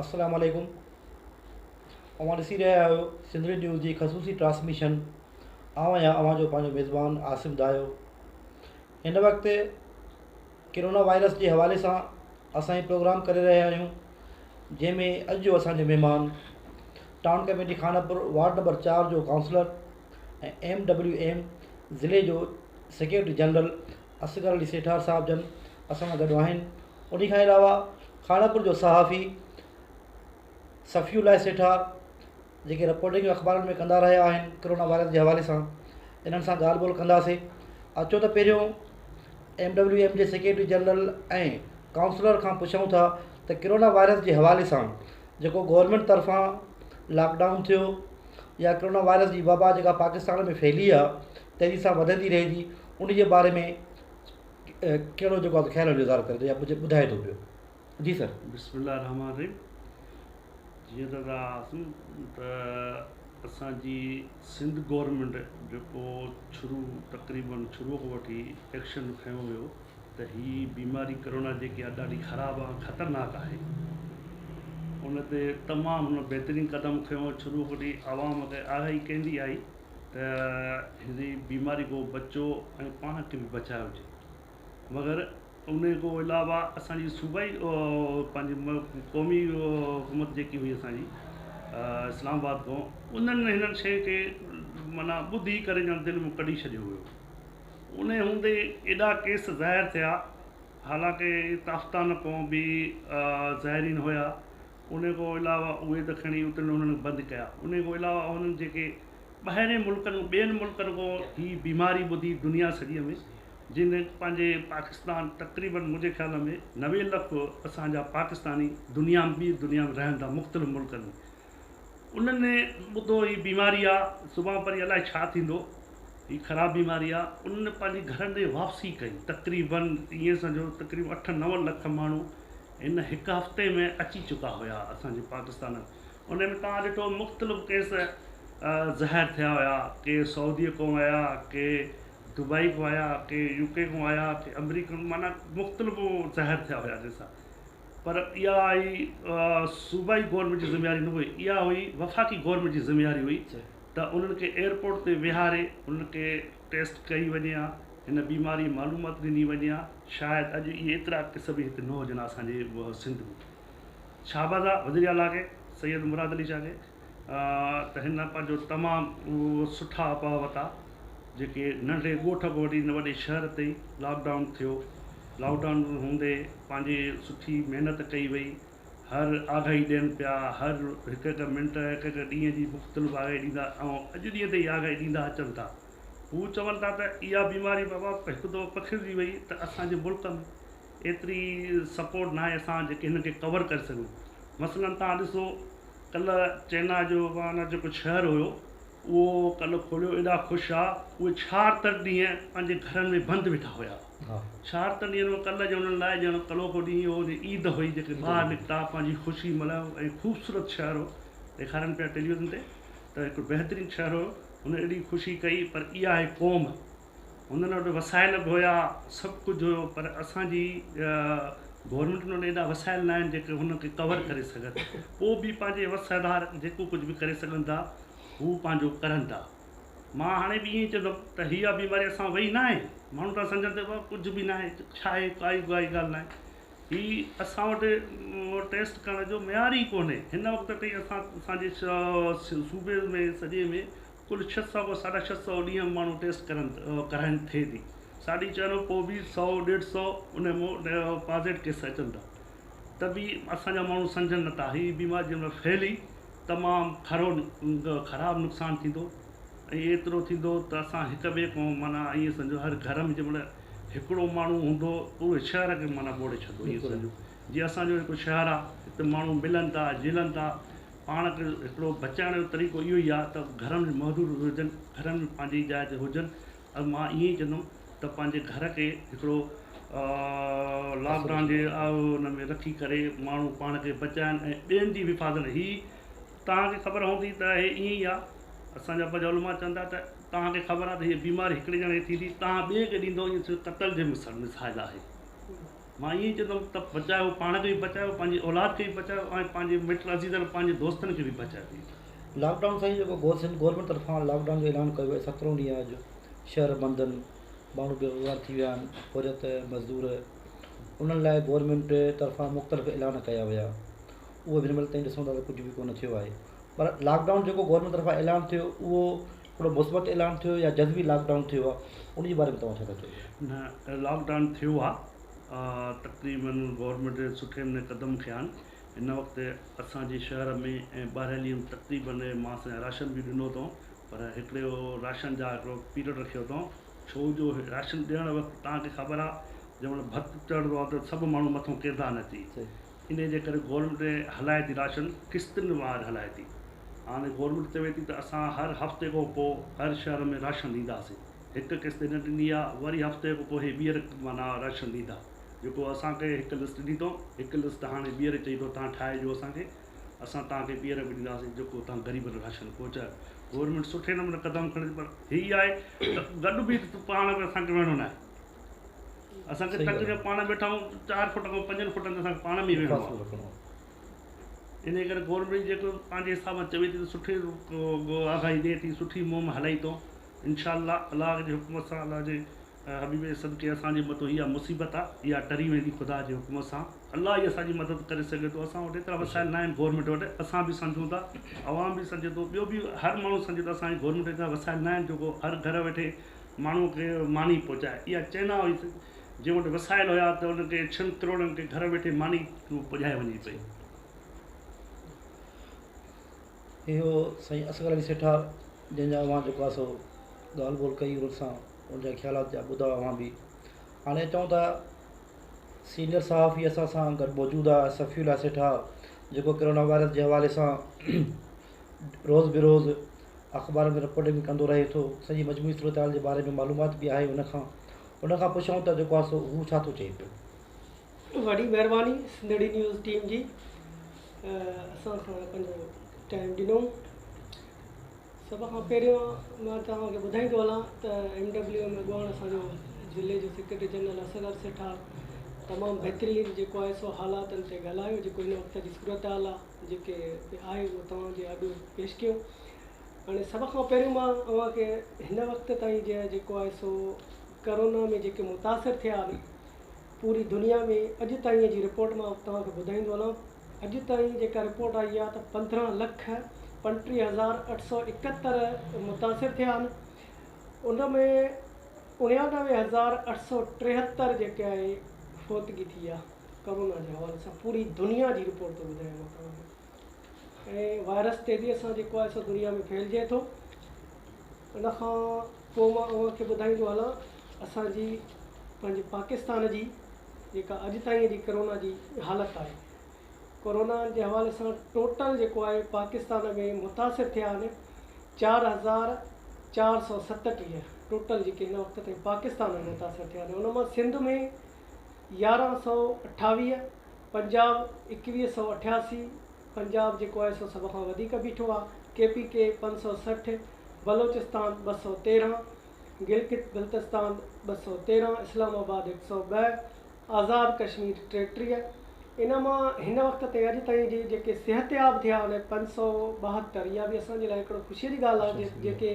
السلام عليڪم اوهان ڏسي رهيا آهيو سنڌڙي نيوز جي خصوصي ٽرانسميشن آئون آهيان اوهان جو پنهنجو ميزبان عاصم دايو هن وقت ڪرونا وائرس جي حوالي سان اسان هي پروگرام ڪري رهيا آهيون جنهن ۾ اڄ جو اسان جو مهمان town committee Khanpur ward number چار جو ڪائونسلر ۽ ايم ڊبليو ايم ضلعي جو سيڪريٽري جنرل اصغر علي سيٺار صاحب جن اسان سان گڏ آهن انهي کان علاوه خانپور جو صحافي صفي الله سيٺار جيڪي رپورٽنگ اخبارن ۾ ڪندا رهيا آهن ڪرونا وائرس جي حوالي سان انهن سان ڳالهه ٻولهه ڪنداسي اچو ته پهريون ايم ڊبليو ايم جي سيڪريٽري جنرل ۽ ڪائونسلر کان پڇون ٿا ته ڪرونا وائرس جي حوالي سان جيڪو گورمينٽ طرفان لاڪڊائون ٿيو يا ڪرونا وائرس جي وبا جيڪا پاڪستان ۾ ڦهلي آهي تيزي سان وڌندي رهي ٿي ان جي باري ۾ ڪهڙو جيڪو آهي خيال جو اظهار ڪري ڏي يا ڪجهه ٻڌائي ٿو پيو جي سر. بسم الله الرحمٰن الرحيم جيئن ته تها آسن ته اسان جي سنڌ گورنمينٽ جيڪو شروع تقريبا شروع کان وٺي ايڪشن کنيو ويو ته هي بيماري ڪرونا جيڪي آهي ڏاڍي خراب آهي خطرناڪ آهي ان تي تمام هن بهترين قدم کنيو شروع کان وٺي عوام کي آگاهي ڪندي آئي ته هن بيماري کان بچو ۽ پاڻ کي به بچايو وڃي مگر ان کان علاوه اسانجي صوبائي پنهنجي قومي حڪومت جيڪي هئي اسانجي اسلام آباد کان انهن هنن شين کي معنيٰ ٻڌي ڪري ڄڻ دل مون ڪڍي ڇڏيو هيو ان هوندي ايڏا ڪيس ظاهر ٿيا حالانڪه تافتان کان به ظاهرين هيا انهيء کان علاوه اهي ته کڻي اترڻ انهن بند ڪيا. انهيء کان علاوه انهن جيڪي ٻاهرين ملڪن ٻين ملڪن کان هي بيماري ٻڌي دنيا سڄيء ۾ جن پنهنجي پاڪستان تقريباً منهنجي خيال ۾ نوي لک اسان جا پاڪستاني دنيا م ٻي دنيا ۾ رهن ٿا مختلف ملڪن ۾ انهن ٻڌو هي بيماري آ سڀان پرين الائي ڇا ٿيندو هي خراب بيماري آ انهن پنهنجي گهرن ڏي واپسي ڪئي تقريباً ائين سمجهو تقريباً اٺ نو لک ماڻهو هن هڪ هفتي ۾ اچي چڪا هيا اسان جي پاڪستان ان ۾ توهان ڏٺو مختلف ڪيس ظاهر ٿيا هيا ڪي سعودي ڪون آيا ڪي دبئي ڪون آيا ڪي يو ڪي ڪون آيا ڪي امريڪا معنيٰ مختلف ظاهر ٿيا هيا جن سان پر اها هئي صوبائي گورنمينٽ جي ذميواري نه هئي اها هئي وفاقي گورنمينٽ جي ذميواري هئي ته انهن کي ايئرپورٽ تي ويهاري انهن کي ٽيسٽ ڪئي وڃي ها هن بيماري جي معلومات ڏني وڃي ها شايد اڄ اهي ايترا ڪيس به هتي نه هجن ها اسان جي سنڌ ۾ شاباز آ وزير اعليٰ کي سيد مراد علي شاهه کي ته هن پنهنجو تمام سٺا اپاء وتا جيڪي ننڍڙي ڳوٺ کان وٺي هن وڏي شهر تائين لاڪ ڊائون ٿيو لاڪ ڊائون هوندي پنهنجي سٺي محنت ڪئي وئي هر آگاهي ڏين پيا، هر هڪ هڪ منٽ، هڪ هڪ ڏينهن جي مختلف آگاهي ڏيندا ۽ اڄ ڏينهن تائين آگاهي ڏيندا اچن ٿا. هو چون ٿا ته اها بيماري بابا هڪ دفعو پکڙجي وئي ته اسان جي ملڪ ۾ ايتري سپورٽ ناهي اسان جيڪي هن کي ڪور ڪري سگهون. مثلا توهان ڏسو ڪلهه چينا جو وهان جيڪو شهر هيو اهو ڪلهه کوليو ايڏا خوش آ اهي ڇهاڙتر ڏينهن پنهنجي گهرن ۾ بند ويٺا هيا. شهر تن ڏينهن مان ڪل جو انهن لاء ڄڻ ڪلوڪو ڏينهن هو جي عيد هئي جيڪي ٻاهر نڪتا پنهنجي خوشي ملهائو ۽ خوبصورت شهر هو ڏيکارين پيا ٽيليوزن تي ته هڪڙو بهترين شهر هو هن ايڏي خوشي ڪئي پر اها آهي قوم هنن وٽ وسائل به هيا سڀ ڪجهه هيو پر اسان جي گورنمينٽن وٽ ايڏا وسائل نه آهن جيڪي هن کي ڪور ڪري سگهن پوء به پنهنجي وس آڌار جيڪو ڪجهه به ڪري سگهن ٿا هو پنهنجو ڪرن ٿا. مان هاڻي به ائين ئي چوندم ته اها بيماري اسان مان وئي ناهي. ماڻهو ته سمجهن ته بابا ڪجهه به ناهي، ڇا اهي ڪائي ڪائي ڳالهه ناهي. هي اسان وٽ ٽيسٽ ڪرڻ جو معيار ئي ڪونهي. هن وقت تائين اسان اسان جي صوبي ۾ سڄي ۾ ڪل ڇهه سؤ کان ساڍا ڇهه سؤ ڏينهن ماڻهو ٽيسٽ ڪرن ڪرائين ٿئي ٿي. ساڍي چئن کان پوء به سؤ ڏيڍ سؤ ان مان پازيٽ ڪيس اچن ٿا. ته به اسان جا ماڻهو سمجهن نٿا هي بيماري جنهن مهل ڦهلي تمام کرو خراب نقصان ٿيندو ۽ ايترو ٿيندو ته اسان هڪ ٻئي کان معنيٰ ائين سمجهو هر گهر ۾ جنهن مهل هڪڙو ماڻهو هوندو پوري شهر کي معنيٰ ٻوڙي ڇڏندو ائين سمجهو جي اسان جو هڪ شهر آ هتي ماڻهو ملن ٿا جلن ٿا پاڻ کي هڪڙو بچائڻ جو طريقو اهو ئي آ ته گهرن ۾ محدود هجن گهرن ۾ پنهنجي جاء تي هجن ۽ مان ائين ئي چوندم ته پنهنجي گهر کي هڪڙو لاڪ ڊائون جي ان ۾ رکي ڪري ماڻهو پاڻ کي بچائين ۽ ٻين جي به حفاظت هي توهان کي خبر هوندي ته هي ائين ئي آ اسان جا پنهنجا علماء چون ٿا ته توهان کي خبر آ ته هي بيماري هڪڙي ڄڻي کي ٿيندي توهان ٻئي کي ڏيندو ائين صرف قتل جي مثل مثال آهي مان ائين ئي چوندم ته بچايو، پاڻ کي به بچايو، پنهنجي اولاد کي به بچايو ۽ پنهنجي مٽ عزيزن، پنهنجي دوستن کي به بچايو. لاڪ ڊائون سان اهو جيڪو گول سنڌ گورنمينٽ طرفان لاڪ ڊائون جو اعلان ڪيو ويو سترهون ڏينهن اڄ شهر بند آهن ماڻهو بي روزگار ٿي ويا آهن پورهيت مزدور انهن لاء گورنمينٽ طرفان مختلف اعلان ڪيا ويا اهي به هن مهل تائين ڏسون ٿا ته ڪجهه به ڪونه ٿيو آهي پر لاڪ ڊائون جيڪو گورنمينٽ طرفان اعلان ٿيو اهو ھڪڙو مثبت اعلان ٿيو يا جزوي لاڪ ڊائون ٿيو آ ان جي باري ۾ توھان ڇا ٿا چئو؟ نه لاڪ ڊائون ٿيو آ تقريباً گورنمينٽ سٺي نموني قدم کنيا آھن ھن وقت اسان جي شھر ۾ ۽ ٻاھريلي ھند تقريباً ماس ۽ راشن به ڏنو اٿئون پر ھڪڙي اھو راشن جا ھڪڙو پيرڊ رکيو اٿئون ڇو جو راشن ڏيڻ وقت توھان کي خبر آ جنھن مھل ڀت چڙھندو آ ته سڀ ماڻھو مٿو ڪيردا آھن اچي انهي جي ڪري گورنمينٽ هلائي ٿي راشن قسطن وار هلائي ٿي هاڻي گورنمينٽ چوي ٿي ته اسان هر هفتي کان پو هر شهر ۾ راشن ڏينداسين هڪ قسط هن ڏني آ وري هفتي کان پو هي ٻيهر معنيٰ راشن ڏيندا جيڪو اسان کي هڪ لسٽ ڏني اٿئون هڪ لسٽ هاڻي ٻيهر چئي ٿو تهان ٺاهي ڏيو اسان کي اسان تهان کي ٻيهر به ڏينداسين جيڪو تهان غريبن راشن پهچايو گورنمينٽ سٺي نموني قدم کڻي ٿي پر هي آهي ته گڏ به پاڻ ۾ اسان کي وهڻو ناهي اسان کي تنگ جو پاڻ ويٺا آهيون چار فٽ کان پنجن فٽن تي اسان کي پاڻ ۾ ئي ويهڻو آهي انهي ڪري گورنمينٽ جيڪو پنهنجي حساب سان چوي ٿي سٺي آگاهي ڏي ٿي سٺي مهم هلائي ٿو انشاء الله الله جي حڪم سان الله جي حبيب جي صدقي اسان جي مٿو اها مصيبت آهي اها ٽري ويندي خدا جي حڪم سان الله ئي اسان جي مدد ڪري سگهي ٿو اسان وٽ ايترا وسائل ناهن گورنمينٽ وٽ اسان به سمجهون ٿا عوام به سمجهي ٿو ٻيو به هر ماڻهو سمجهي ٿو اسان جي گورنمينٽ وٽ ايترا وسائل ناهن جيڪو هر گهر ويٺي ماڻهوء کي ماني پهچائي. اها چئنا هئي ته جنهن وٽ وسائل هيا ته ان کي ڇهن ڪروڙن کي گهر ويٺي ماني پڄائي وڃي پئي. اهو سائين اصغر علي سيٺار جنهن جا اوهان جيڪو آهي سو ڳالهه ٻولهه ڪئي انهن سان ان جا خيالات جا ٻڌا اوهان به هاڻي اچون ٿا سينئر صحافي اسان سان گڏ موجود آهي صفي الله سيٺار جيڪو ڪرونا وائرس جي حوالي سان روز بروز اخبارن ۾ رپورٽنگ به ڪندو رهي ٿو سڄي مجموعي صورتحال جي باري ۾ معلومات به آهي ان کان ان کان پڇون ته جيڪو آهي سو هو ڇا ٿو چئي پيو. وڏي مهرباني سنڌڙي نيوز ٽيم جي اسان کان پنهنجو ٽائيم ڏنو سڀ کان پهريون مان توهان کي ٻڌائيندو هلان ته ايم ڊبليو ايم اڳواڻ اسان جو ضلعي جو سيڪريٽري جنرل اصغر سيٺار تمام بهترين جيڪو آهي سو حالاتن تي ڳالهايو جيڪو هن وقت جي صورتحال آهي جيڪي به آهي اهو توهان جي اڳ پيش ڪيو هاڻي سڀ کان پهريون مان اوهان کي هن وقت تائين جي جيڪو آهي سو ڪرونا ۾ جيڪي متاثر ٿيا آهن پوري دنيا ۾ اڄ تائين جي رپورٽ مان توهان کي ٻڌائيندو هلان اڄ تائين جيڪا رپورٽ آئي آهي ته پندرهن لک پنٽيهه هزار اٺ سو اڪهتر متاثر ٿيا آهن ان ۾ اڻيانوي هزار اٺ سو ٽيهتر جيڪي آهي فوتگي ٿي آهي ڪرونا جي حوالي سان پوري دنيا جي رپورٽ ٿو ٻڌايان مان توهان کي ۽ وائرس تي به اسان جيڪو آهي سو دنيا ۾ ڦهلجي ٿو ان کان پوء مان اوهان کي ٻڌائيندو هلان اسان جي پنهنجي پاڪستان جي جيڪا اڄ تائين جي ڪرونا جي حالت آهي ڪرونا جي حوالي سان ٽوٽل جيڪو آهي پاڪستان ۾ متاثر ٿيا آهن چار هزار چار سؤ ستٽيهه ٽوٽل جيڪي هن وقت تائين پاڪستان ۾ متاثر ٿيا آهن ان مان سنڌ ۾ يارهن سؤ اٺاويهه، پنجاب ايڪويهه سؤ اٺياسي، پنجاب جيڪو آهي سو سڀ کان وڌيڪ بيٺو آ، ڪي پي ڪي پنج سؤ سٺ، بلوچستان ٻه سؤ تيرهن، گلگت بلتستان ٻه سؤ تيرهن، اسلام آباد هڪ سؤ ٻه، آزاد ڪشمير ٽيٽيهه، ان مان هن وقت تائين اڄ تائين جي جيڪي صحتياب ٿيا آهن پنج سؤ ٻاهتر، اها به اسان جي لاء هڪڙو خوشيء جي ڳالهه آ جيڪي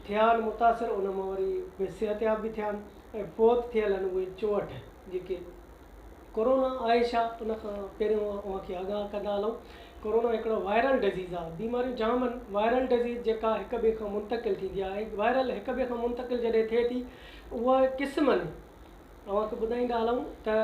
ٿيا آهن متاثر ان مان وري صحتياب به ٿيا آهن. ۾ فوت ٿيل آهن اهي چوهٺ جيڪي ڪورونا آهي ڇا ان کان پهريون اوهان کي آگاهه ڪندا هلون ڪورونا هڪڙو وائرل ڊزيز آهي بيماريون جام آهن وائرل ڊزيز جيڪا هڪ ٻئي کان منتقل ٿيندي آهي ۽ وائرل هڪ ٻئي کان منتقل جڏهن ٿئي ٿي اها قسمن اوهان کي ٻڌائيندا هلون ته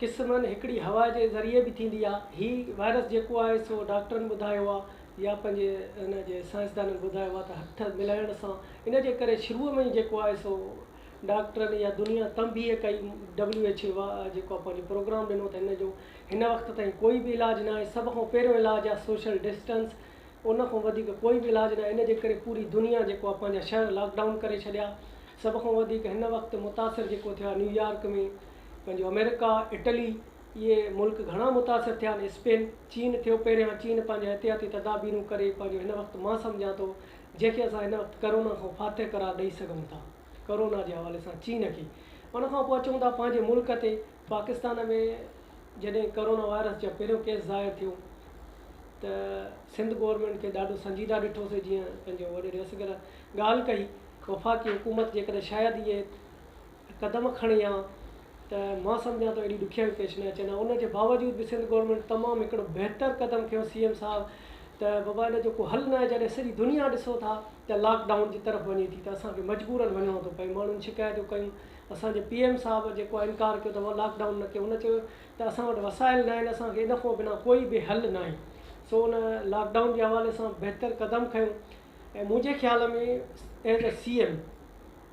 قسمن هڪڙي هوا جي ذريعي به ٿيندي آهي هي وائرس جيڪو آهي سو ڊاڪٽرن ٻڌايو آهي يا پنهنجي ان جي سائنسدانن ٻڌايو آهي ته هٿ ملائڻ سان ان جي ڪري شروع ۾ ئي جيڪو آهي سو ڊاڪٽرن يا دنيا تنبيھ ڪئي ڊبليو ايڇ اي جيڪو آ پنهنجو پروگرام ڏنو ته هن جو هن وقت تائين ڪوئي به علاج ناهي سڀ کان پهريون علاج آ سوشل ڊسٽنس ان کان وڌيڪ ڪوئي به علاج ناهي ان جي ڪري پوري دنيا جيڪو آ پنهنجا شهر لاڪ ڊائون ڪري ڇڏيا سڀ کان وڌيڪ هن وقت متاثر جيڪو ٿيا نيويارڪ ۾ پنهنجو امريڪا اٽلي اهي ملڪ گهڻا متاثر ٿيا آهن اسپين چين ٿيو پهريان چين پنهنجا احتياطي تدابيرون ڪري پنهنجو هن وقت مان سمجهان ٿو جنهن کي اسان هن وقت ڪرونا کان فاتح قرار ڏئي سگهون ٿا ڪرونا جي حوالي سان چين کي ان کان پوء اچون ٿا پنهنجي ملڪ تي پاڪستان ۾ جڏهن ڪرونا وائرس جا پهريون ڪيس ظاهر ٿيو ته سنڌ گورنمينٽ کي ڏاڍو سنجيده ڏٺوسي جيئن پنهنجو وڏيري اصغر ڳالهه ڪئي وفاقي حڪومت جيڪڏهن شايد اهي قدم کڻي ها ته مان سمجهان ٿو ايڏي ڏکيائيون پيش نه اچن ها ان جي باوجود به سنڌ گورنمينٽ تمام هڪڙو بهتر قدم کنيو سي ايم صاحب ته بابا ان جو ڪو حل ناهي جڏهن سڄي دنيا ڏسو ٿا ته لاڪ ڊائون جي طرف وڃي ٿي ته اسان کي مجبورن وڃڻو ٿو پئي ماڻهن شڪايتون ڪيون اسان جي پي ايم صاحب جيڪو آهي انڪار ڪيو ته لاڪ ڊائون نه ڪيو هن چيو ته اسان وٽ وسائل نه آهن اسان کي ان کان بنا ڪوئي به حل ناهي سو ان لاڪ ڊائون جي حوالي سان بهتر قدم کنيو ۽ منهنجي خيال ۾ ايز اي سي ايم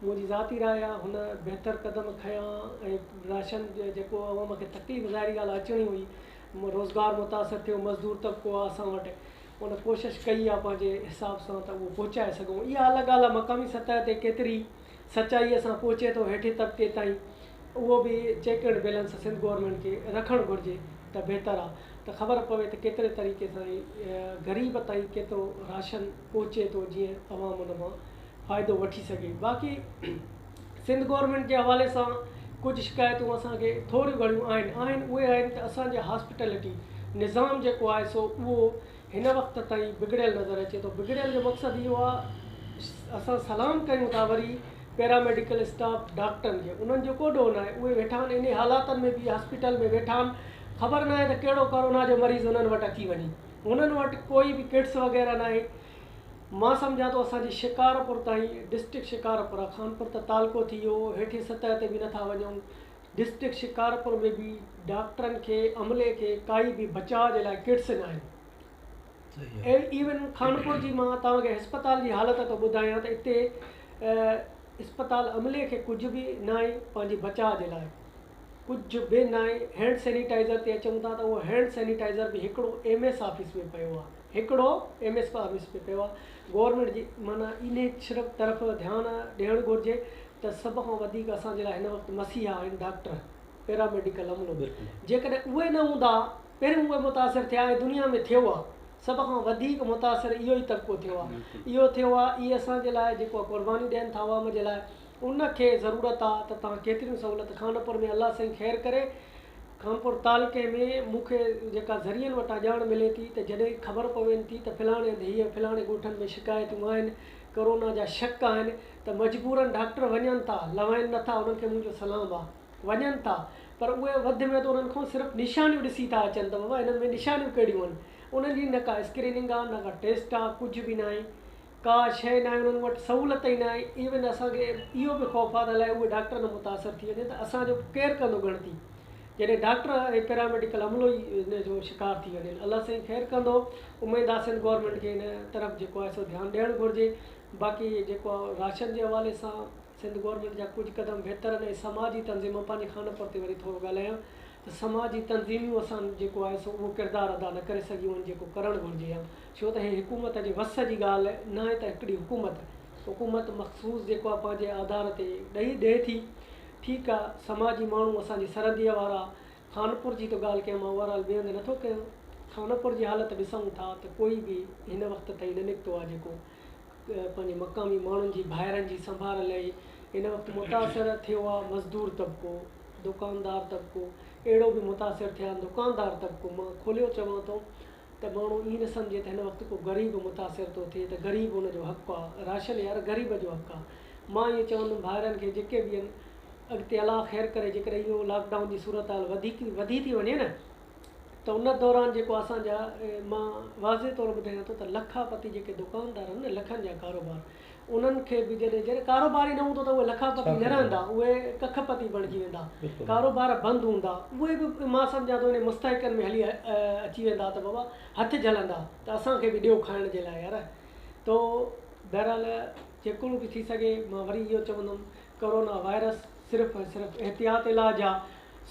منهنجي ذاتي راء آ هن بهتر قدم کنيا ۽ راشن جيڪو عوام کي تڪليف ظاهري ڳالهه آ اچڻي هئي روزگار متاثر ٿيو مزدور طبقو آ اسان وٽ ان ڪوشش ڪئي آ پنهنجي حساب سان ته اهو پهچائي سگهون اها الڳ ڳالهه آ مقامي سطح تي ڪيتري سچائي سان پهچي ٿو هيٺين طبقي تائين اهو به check and balance Sindh government کي رکڻ گهرجي ته بهتر آ ته خبر پوي ته ڪيتري طريقي سان غريب تائين ڪيترو راشن پهچي ٿو جيئن عوام ان مان فائدو وٺي سگهي باقي سنڌ گورنمينٽ جي حوالي سان ڪجهه شڪايتون اسان کي ٿوريون گهڻيون آهن آهن اهي آهن ته اسان جي هاسپيٽلٽي نظام جيڪو آهي سو اهو هن وقت تائين بگڙيل نظر اچي ٿو بگڙيل جو مقصد اهو آهي اسان سلام ڪيون ٿا وري پيراميڊيڪل اسٽاف ڊاڪٽرن کي انهن جو ڪو ڏوهه ناهي اهي ويٺا آهن انهي حالاتن ۾ به هاسپيٽل ۾ ويٺا آهن خبر ناهي ته ڪهڙو ڪورونا جو مريض انهن وٽ اچي وڃي هنن وٽ ڪوئي به ڪٽس وغيره ناهي. مان سمجهان ٿو اسان جي شڪارپور تائين ڊسٽرڪٽ شڪارپور آ خانپور ته تعلقو ٿي ويو هيٺين سطح تي به نٿا وڃون ڊسٽرڪٽ شڪارپور ۾ به ڊاڪٽرن کي عملي کي ڪائي به بچاء جي لاء ڪٽس ناهن ايون خانپور جي مان توهان کي هسپتال جي حالت ٿو ٻڌايان ته اتي هسپتال عملي کي ڪجهه به ناهي پنهنجي بچاء جي لاء. ڪجهه به ناهي هينڊ سينيٽائيزر تي اچون ٿا ته اهو هينڊ سينيٽائيزر به هڪڙو ايم ايس آفيس ۾ پيو آهي هڪڙو ايم ايس آفيس ۾ پيو آهي گورنمينٽ جي معنيٰ انهي صرف طرف ڌيان ڏيڻ گهرجي ته سڀ کان وڌيڪ اسان جي لاء هن وقت مسيحا آهن ڊاڪٽر پيرا ميڊيڪل عملو جيڪڏهن اهي نه هوندا پهريون اهي متاثر ٿيا ۽ دنيا ۾ ٿيو آهي سڀ کان وڌيڪ متاثر اهو ئي طبقو ٿيو آهي اهو ٿيو آهي اهي اسان جي لاء جيڪو قرباني ڏين ٿا عوام جي لاء ان کي ضرورت آ ته تان ڪيتريون سهولت خانپور ۾ الله سائين خير ڪري خانپور تعلقي ۾ مون کي جيڪا ذريعن وٽان ڄاڻ ملي ٿي ته جڏهن خبر پوين ٿي ته فلاڻي هنڌ هيء فلاڻي ڳوٺن ۾ شڪايتون آهن ڪورونا جا شڪ آهن ته مجبورن ڊاڪٽر وڃن ٿا لوائين نه ٿا انهن کي منهنجو سلام آ وڃن ٿا پر اهي وڌ ميڌ انهن کان صرف نشانيون ڏسي ٿا اچن ته بابا هنن ۾ نشانيون ڪهڙيون آهن انهن جي نه ڪا اسڪريننگ آ نه ڪا ٽيسٽ آ ڪجهه به ناهي ڪا شيء ناهي انهن وٽ سهولت ئي ناهي ايون اسان کي اهو به خوف آ ته الائي اهي ڊاڪٽر نه متاثر ٿي وڃن ته اسان جو ڪير ڪندو ڳڻتي جڏهن ڊاڪٽر ۽ پيراميڊيڪل عملو ئي ان جو شڪار ٿي وڃن الله سائين خير ڪندو اميد آ سنڌ گورنمينٽ کي ان طرف جيڪو آهي سو ڌيان ڏيڻ گهرجي باقي جيڪو راشن جي حوالي سان سنڌ گورنمينٽ جا ڪجهه قدم بهتر آهن ۽ سماجي تنظيم مان پنهنجي خانپور تي وري ٿورو ڳالهايان ته سماجي تنظيميون اسان جيڪو آهي سو اهو ڪردار ادا نه ڪري سگهيون آهن جيڪو ڪرڻ گهرجي ها ڇو ته هي حڪومت جي وس جي ڳالهه ناهي ته هڪڙي حڪومت حڪومت مخصوص جيڪو آهي پنهنجي آڌار تي ڏئي ڏئي ٿي ٺيڪ آهي سماجي ماڻهو اسان جي سرحدي وارا خانپور جي ته ڳالهه ڪيم اوور آل بيهند نه ٿو ڪيان خانپور جي حالت ڏسون ٿا ته ڪوئي به هن وقت تائين نه نڪتو آهي جيڪو پنهنجي مقامي ماڻهن جي ڀائرن جي سنڀار لئي هن وقت متاثر ٿيو آهي مزدور طبقو دوڪاندار طبقو اهڙو به متاثر ٿيا آهن دوڪاندار طبقو مان کوليو چوان ٿو ته ماڻهو ائين نه سمجهي ته هن وقت ڪو غريب متاثر ٿو ٿئي ته غريب ان جو حق آ، راشن يار غريب جو حق آ. مان ائين چوندم ڀائرن کي جيڪي به ان اڳتي الله خير ڪري جيڪڏهن ائين لاڪ ڊائون جي صورتحال وڌيڪ وڌي ٿي وڃي نه ته ان دوران جيڪو اسان جا مان واضح طور ٻڌايان ٿو ته لکا پتي جيڪي دڪاندار آهن نه لکن جا ڪاروبار انهن کي به جڏهن جڏهن ڪاروبار ئي نه هوندو ته اهي لکا پتي نه رهندا، اهي ڪک پتي بڻجي ويندا. ڪاروبار بند هوندا، اهي به مان سمجهان ٿو انهن مستحقن ۾ هلي اچي ويندا ته بابا هٿ جهلندا ته اسان کي به ڏيو کائڻ جي لاء يار. تو بهرحال جيڪو به ٿي سگهي مان وري اهو چوندم ڪورونا وائرس صرف ۽ صرف احتياط علاج آ،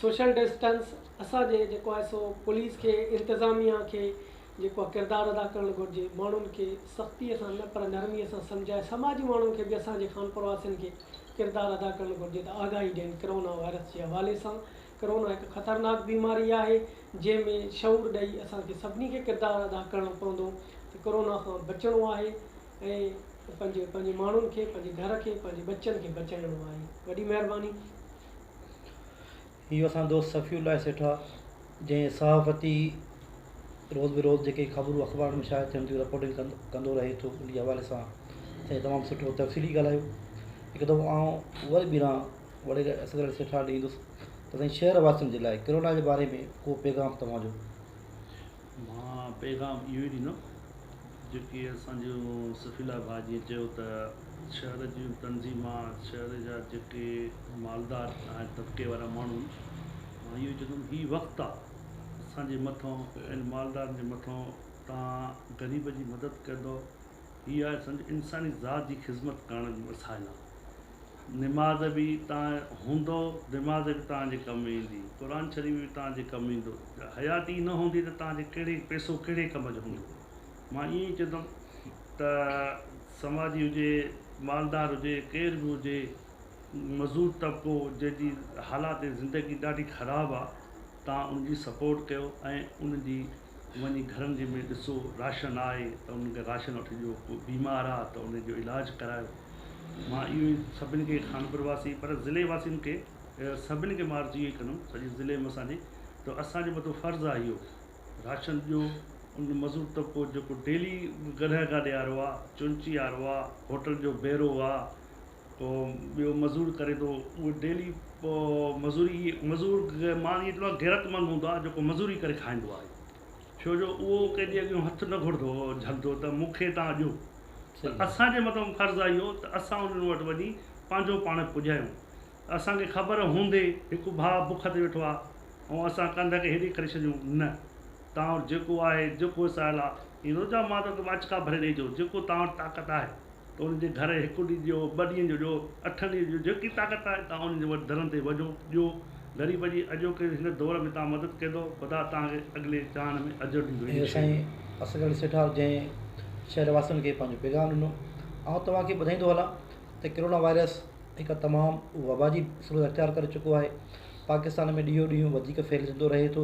سوشل ڊسٽنس اسان جي جيڪو آهي سو پوليس کي انتظاميا کي، جيڪو اھا ڪردار ادا ڪرڻ گھرجي ماڻھن کي سختي سان نه پر نرمي سان سمجھائي سماجي ماڻھن کي به اسان جي خانپور واسين کي ڪردار ادا ڪرڻ گھرجي ته آگاھي ڏين ڪرونا وائرس جي حوالي سان ڪرونا ھڪ خطرناڪ بيماري آھي جنھن ۾ شعور ڏئي اسان کي سڀني کي ڪردار ادا ڪرڻو پوندو ته ڪرونا کان بچڻو آھي ۽ پنھنجي پنھنجي ماڻھن کي پنھنجي گھر کي پنھنجي ٻچن کي بچائڻو آھي وڏي مھرباني. اهو اسان جو دوست صفي الله سيٺ آ جنهن صحافتي روز به روز جيڪي خبرون اخبارن ۾ شايع ٿين ٿيون رپورٽنگ ڪن ڪندو رهي ٿو ان جي حوالي سان سائين تمام سٺو تفصيلي ڳالهايو هڪ دفعو آئون وري ٻيهران وڙي اصغر علي سيٺ آڏي ايندس ته سائين شهر واسين جي لاء ڪرونا جي باري ۾ ڪو پيغام توهان جو مان پيغام اهو ئي ڏيندم جيڪي اسان جو صفي لاء ڀاء جيئن چيو ته شهر جون تنظيمان شهر جا جيڪي مالدار ۽ طبقي وارا ماڻهو آهن مان اهو ئي چوندم هي وقت آ اسان جي مٿان ان مالدارن جي مٿان تان غريب جي مدد ڪندو هي آهي اسان جي انساني ذات جي خدمت ڪرڻ جو وسائل آ نماز به تان هوندو نماز به تان جي ڪم ايندي قرآن شريف به تان جي ڪم ايندو جا حيات ئي نه هوندي ته تان جي ڪهڙي پيسو ڪهڙي ڪم جو هوندو مان ائين ئي چوندم ته سماجي هجي مالدار هجي ڪير به هجي مزور طبقو جنهن جي حالات زندگي ڏاڍي خراب آ تان ان جي سپورٽ ڪيو ۽ ان جي وڃي گهرن جي ۾ ڏسو راشن آهي ته انهن کي راشن وٺي ڏيو ڪو بيمار آ ته ان جو علاج ڪرايو مان اهو ئي سڀني کي خانپور واسين پر ضلعي واسين کي سڀني کي مان عرض اهو ئي ڪندم سڄي ضلعي ۾ اسان جي ته اسان جي مٿو فرض آ اهو راشن ڏيو ان مزور طبقو جيڪو ڊيلي گڏهه کان ڏيارو آ چونچي وارو آ هوٽل جو بيرو آ تو ٻيو مزور ڪري تو اهو ڊيلي مزوري مزور ماڻهو ايترو غيرت مند هوندو آهي جيڪو مزوري ڪري کائيندو آهي ڇو جو اهو ڪنهنجي اڳيان هٿ نه گهرندو جهلندو ته مون کي تان ڏيو ته اسان جي مٿان فرض آهي اهو ته اسان انهن وٽ وڃي پنهنجو پاڻ پڄايون اسان کي خبر هوندي هڪ ڀاء بک تي ويٺو آهي ۽ اسان ڪنڌ کي هيڏي ڪري ڇڏيون نه توهان وٽ جيڪو آهي، جيڪو وسايل آ، ائين نٿو چوان مان توکي ماچ ڪا ڀري ڏئي جو، جيڪو توهان وٽ طاقت آهي، ته انهن جي گهر هڪ ڏينهن ڏيو، ٻه ڏينهن جو ڏيو، اٺن ڏينهن جو ڏيو، جيڪي طاقت آهي، توهان انهن جي وٽ درن تي وڃو، ڏيو، غريب جي اڄوڪي هن دور ۾ توهان مدد ڪندؤ، خدا توهان کي اڳلي جهان ۾ اجر ڏيندو، ان شاء الله. سائين اصغر علي سيٺار جنهن شهر واسين کي پنهنجو پيغام ڏنو، آئون توهان کي ٻڌائيندو هلان ته ڪرونا وائرس هڪ تمام وبا جي صورت اختيار ڪري چڪو آهي، پاڪستان ۾ ڏينهون ڏينهن وڌيڪ ڦهلجندو رهي ٿو،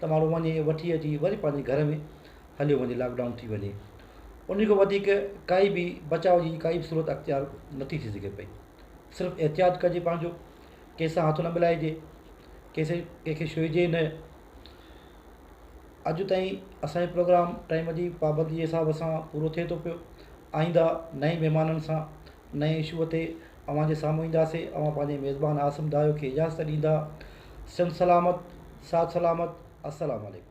ته ماڻهو وڃي وٺي اچي وري پنهنجي گهر ۾ هليو وڃي لاڪ ڊائون ٿي وڃي انهي کان وڌيڪ ڪائي به بچاء جي ڪائي به صورت اختيار نٿي ٿي سگهي پئي صرف احتياط ڪجي پنهنجو ڪنهن سان هٿ نه ملائجي ڪنهن سان ڪنهن کي ڇهجي نه اڄ تائين اسانجو پروگرام ٽائيم جي پابندي جي حساب سان پورو ٿئي ٿو پيو آئنده نئين مهمانن سان نئين اشوء تي اوهان جي سامهون اينداسين، اوهان پنهنجي ميزبان عاصم دايو کي اجازت ڏيندا، سنڌ سلامت، ساٿ سلامت، السلام عليڪم.